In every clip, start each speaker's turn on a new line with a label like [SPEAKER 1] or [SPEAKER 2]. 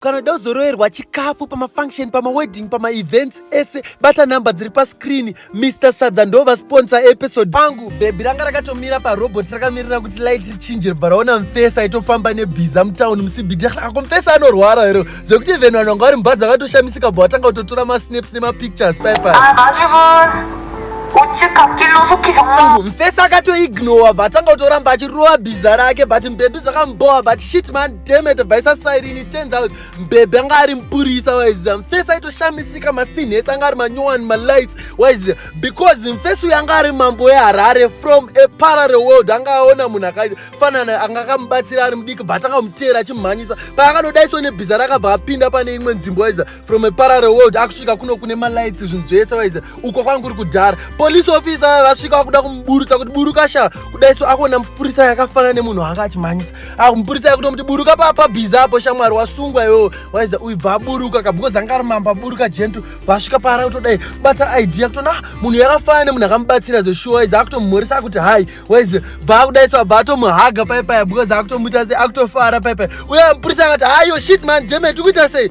[SPEAKER 1] kana uda kuzoroerwa chikafu pamafunction pamawedding pamaevents ese bata number dziri pascreen mr sadza ndova sponsor episode pangu bhebhi ranga rakatomira parobot rakamirira kuti light richinje ribva raona mfesa aitofamba nebhiza mutown musibidi ako mfesa anorwara here zvekuti even vanhu vanga vari mba dzakatoshamisika bva vatanga kutotora masnaps nemapictures paipai mfesa akatoignowa bva atanga kutoramba achirova bhiza rake but mbhebhi zvakambowa but shit man demete bhaisa sairini turns out mbebe anga ari mupurisa waiziva mfesi aitoshamisika masinhets anga ari manyowani malights waiziva because mfesi uyo anga ari mambo weharare from a parallel world anga aona munhu akafanana anga akamubatsira ari mudiki but akamuteera achimhanyisa paakanodaiswa nebhiza rakabva apinda pane imwe nzvimbo waiziva from a parallel world akusvika kuno kune malights zvinhu zvese waize uko kwangu kuri kudhara police officer vaya vasvika vakuda kumuburutsa kuti buruka sha kudai so akuona mupurisa yakafanana nemunhu anga achimhanyisa akumupurisa ah, yakutomuti buruka papa bhiza apo shamwari wasungwa iwewo waize uyu bva aburuka ka because anga ari mamba aburuka gentu vasvika paara kutodai bata idea kutona ah, munhu yakafanana nemunhu akamubatsira zeshuwa waize akutomumhorisa akuti hai waize bva akudai so abva atomuhaga paipaya because akutomuita se akutofara paipaya uye mupurisa akati hayo shit man demet ukuita sei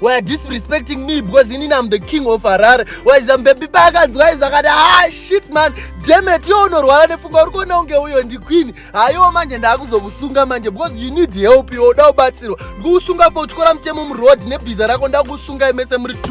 [SPEAKER 1] why are disrespecting me because ini am the king of harare why is ambebi paakanzwa izvo akati ah shit man demet yo unorwara nepfungwa uri kuona kunge uyo ndiqueen haiwo manje ndaakuzokusunga manje because you need help iwe uda kubatsirwa ndikukusunga fo utyora mutemo muroad nebhiza rako ndakukusunga imese muri two